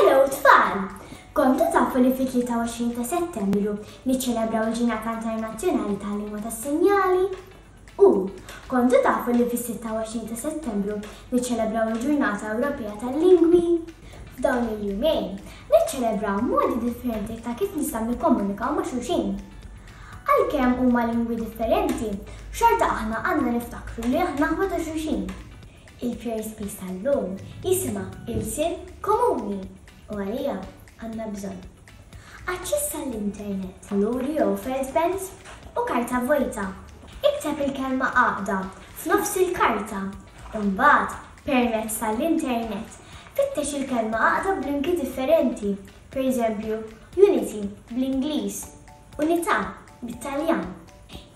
Hello tfal! Kontu tafu li fit-23 ta' settembru niċċelebraw il-ġinata internazzjonali tal-lingwa tas-sinjali? U kontu tafu li fis-26 ta' settembru niċċelebraw il-ġurnata Ewropea tal-lingwi? F'dawn il-jumejn niċċelebraw modi differenti ta' kif nistgħu nikkomunikaw ma' xulxin. Għalkemm huma lingwi differenti, xorta aħna għandna niftakru li aħna ħwa ta' xulxin. Il-First Peace tal-lum jisimha Ilsien Komuni u għaliha għandna bżonn. Aċċess għall-internet. Valuri jew felt pens u karta vojta. Ikteb il-kelma għaqda f'nofs il-karta u mbagħad permezz tal-internet fittex il-kelma għaqda b'linki differenti, pereżempju unity bl-Ingliż, unità bit-Taljan.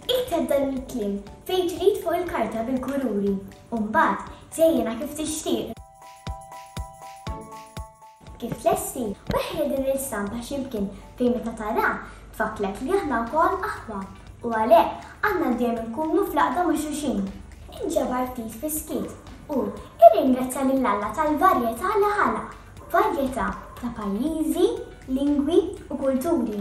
Ikteb dan il-kliem fejn trid fuq il-karta bil-kururi u mbagħad żejjenha kif tixtieq. Kif tlesti, weħħel din l-istampa xi mkien fejn meta taraha tfakkrek li aħna wkoll aħwa u għalhekk għandna dejjem inkunu fl-għaqda ma' xulxin. Inġabar ftit fis-skiet u irringrazzja lil Alla tal-varjetà li ħalaq, varjetà ta' pajjiżi, lingwi u kulturi.